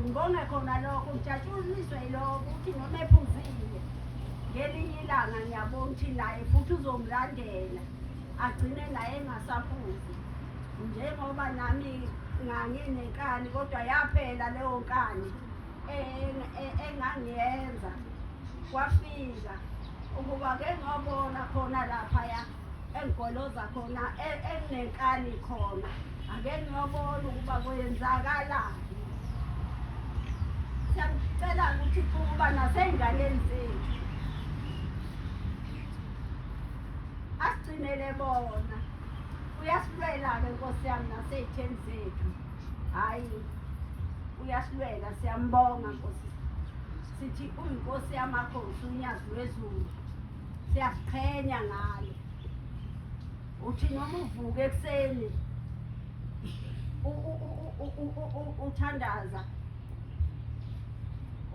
ngibonge khona lokho ngijatshuliswe iloko ukuthi noma ephuzile ngelinye ilanga ngiyabona ukuthi naye futhi uzomlandela agcine naye engasaphuzi njengoba nami nganginenkani kodwa yaphela leyo nkani engangiyenza kwafika ukuba ke ngobona khona laphaya engigoloza khona e- enginenkani khona ake ngiyobona ukuba kwenzakalani siyacela ukuthi ukuba nasey'nganeni zethu asigcinele bona uyasilwela-ke nkosi yami nasey'theni zethu hhayi uyasilwela siyambonga nkosi sithi uyinkosi yamakhosi unyazi lwezulu siyaziqhenya ngalo uthi noma uvuke ekuseni uthandaza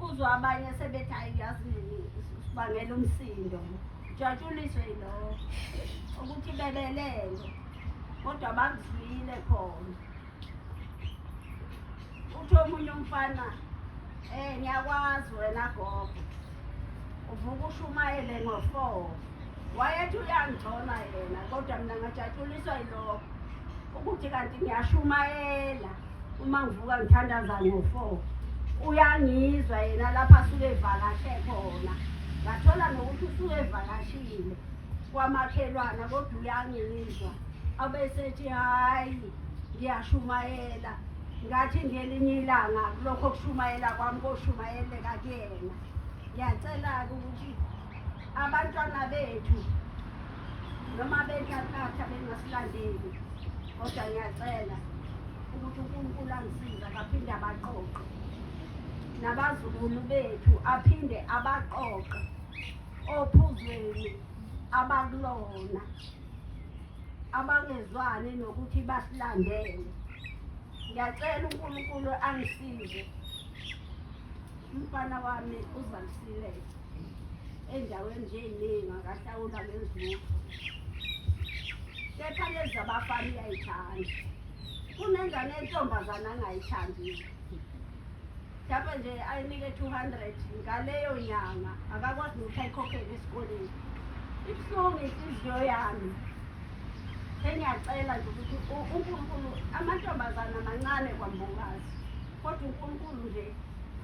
uzwa abanye sebethi hayi yazi sibangela umsindo jatshuliswe yilowo ukuthi bebelele kodwa bakuzwile khona uthi omunye umfana um ngiyakwazi wena gogo uvuka ushumayele ngo-four wayethi uyangigcona yena kodwa mina ngajatshuliswa yilokho ukuthi kanti ngiyashumayela uma ngivuka ngithandaza ngo-four uyangizwa yena lapho asuke evakashe khona ngathola nokuthi usuke evakashile kwamakhelwana kodwa uyangizwa abesethi hhayi ngiyashumayela ngathi ngelinye ilanga kulokho kushumayela kwami koshumayeleka kuyena ngiyacela-ke ukuthi abantwana bethu noma bentathatha bengasilandeli kodwa ngiyacela ukuthi unkulunkulu angisiza kaphinde abaqoqe nabazukulu bethu aphinde abaqoqe ophuzweni abakulona abangezwani nokuthi basilandele ngiyacela unkulunkulu angisize umfana wami uzalisile endaweni njeyiningi akahlawula ngezulu kepha lezi abafana uyayithanda kunengane entombazana angayithandile Lapha nje ayinike 200 ngaleyo nyanga akakwazi ukuthi ayikhokhele esikoleni. Ibuhlungu inhliziyo yami. Sengiyacela nje ukuthi uNkulunkulu amantombazana amancane kwambukazi. Kodwa uNkulunkulu nje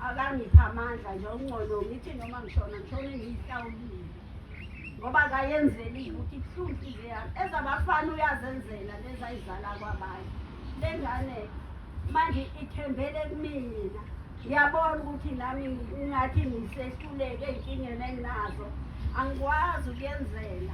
akangipha amandla nje ongcono ngithi noma ngishona ngishone ngiyihlawulile. ngoba kayenzeliwe ukuthi ibuhlungu inhliziyo yami ezabafana uyazenzela lezayizala kwabanye le ngane manje ithembele kumina ngiyabona ukuthi nami ingathi ngisehluleke ey'nkingeni enginazo angikwazi ukuyenzela